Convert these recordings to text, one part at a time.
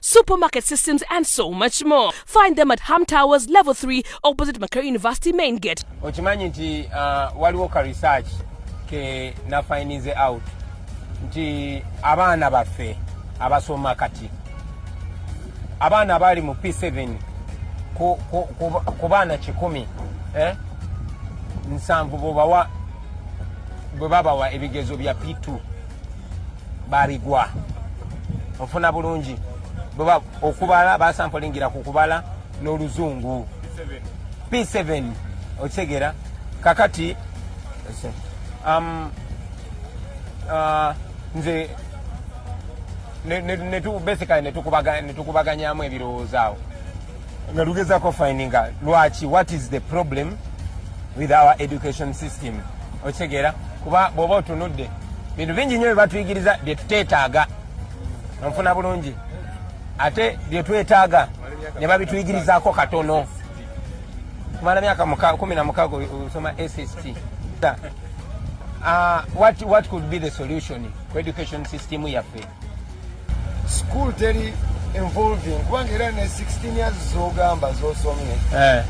supermarket systems, and so much more. Find them at Ham Towers, Level 3, opposite Makerere University Main Gate. okimanyi nti uh, waliwo ka research ke nafinize out nti abaana baffe abasoma kati abaana abaali mu p7 ku, ku, ku, ku baana kikumi eh? nsanvu bwebawa bwe babawa ebigezo bya p2 babigwa ofuna bulungi bweba okubala basampolingira ku kubala n'oluzungu p7 okitegera kakati um, uh, nze basically netukubaganyamu ebirowoozo awo nga lugezako findinga lwaki what is the problem with our education system okitegeera kuba bwoba otunudde bintu bingi nyo byebatuyigiriza byetutetaaga nfuna bulungi ate byetwetaaga ne babituyigirizako katono kumala myaka kumi na mukaga osoma sst uh, what, what could be the solution ku education system yaffe school teri involving kubanga era ne 16 years zogamba zosomye eh.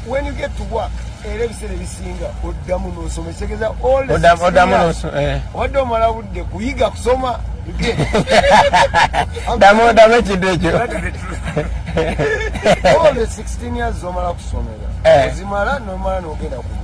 when you get to work era ebiseera ebisinga oddamu nosoma ekitegeeza eh. obadde omala budde kuyiga kusoma damu damu ekintu ekyo all the 16 years zomala kusomera eh. ozimala nomala nogenda ku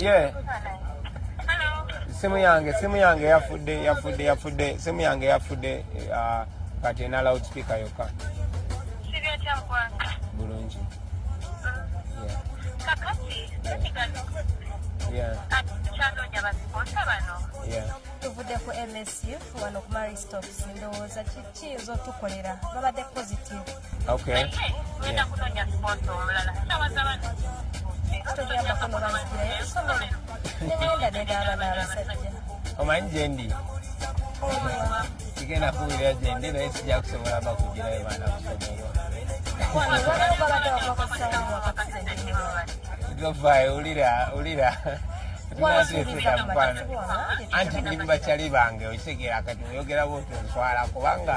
Yeah. Simu yange, simu yange yafudde, yafudde, yafudde. Simu yange yafudde uh, kati ena loudspeaker yokka. Sibya kya mkwanga. Bulungi. Yeah. Kakati, yeah. Kyandonya basikonsa bano. Yeah. tuvudde ku msu wano ku maristops ndowooza kiyinza otukolera babadde positive Okay. Yeah. omanyi gyendi kigenda kuwulira gyendi naye sijja kusobola bakugirayo baana kusobola ulira ulira anti ndi mubakyali bange okitegeera kati oyogera bwoti onswala kubanga